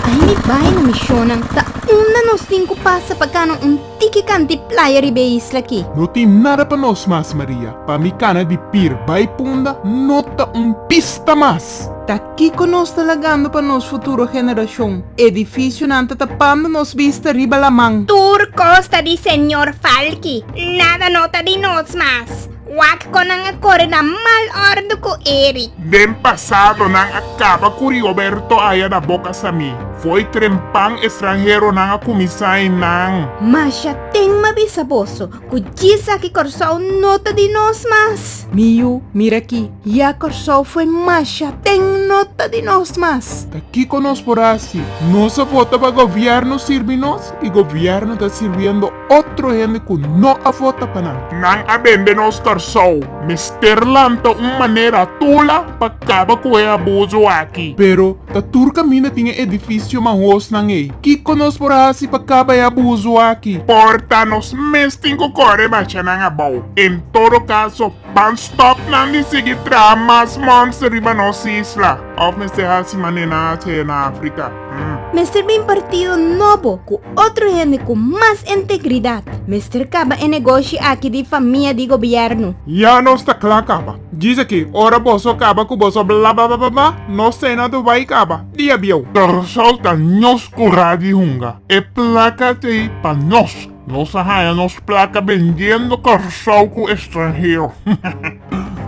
Bai mi bai na misionnan ta unda nos tin ku pasa pa kana un tiki kanti playa riba e isla aki. No tin nada pa nos mas, Maria. Pa mi kana di Pir bai Punda no ta un pista mas. Ta kiko nos ta lagando pa nos futuro generashon? Edifisionan ta tapando nos bista riba laman. Tur kos ta di señor Falky. Nada no ta di nos mas. Wak kon nan a kore na mal ordu ku Eric. Den pasado nan a kaba ku Rioberto aya na boka Sami. Foi trempan estranheronan a kuminsá i nan. Masha ten ma bisa boso ku djis aki Kòrsou no ta di nos mas. Mi yu, mira aki, ya Kòrsou foi masha ten no ta di nos mas. Ta kiko nos por hasi? Nos a vota pa gobièrnu sirbi nos i gobièrnu ta sirbiendo. Otro hende cu no a vota pa nan. Nan a bende nos Carsow. Mester lanta un manera tula pa caba cu e abuso aki. Pero ta tur caminda tin e edificio manhosnan ey. Kico nos por haci pa caba e abuso aki? Por ta nos mes tin cu core bacha nan abao. En todo caso, Ban stopnan di sigui traha mas monster riba nos isla? Of mester hasi manera nan a hasié na Africa? Mester bin partido nobo cu otro hende cu mas entegridad. Mester caba e negoshi aki di famia di gobierno. Ya nos ta cla caba. Djis aki, ora boso caba cu boso blablabla, nos ta e na tu bay caba. Diabieu. Kòrsou ta nos curá di hunga. E placa ta ei pa nos. Nos a haña nos plaka bendiendo Kòrsou ku estranhero.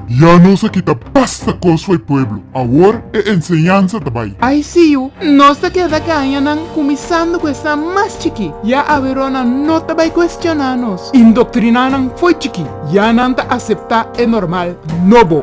Ya nos a kita basta kos for e pueblo, awor e enseñansa ta bai. Ai siu, nos ta keda kaña nan, kuminsando ku esnan mas chikí. Ya aweró nan no ta bai kuestioná nos. Indoktriná nan for chikí, ya nan ta aseptá e normal nobo.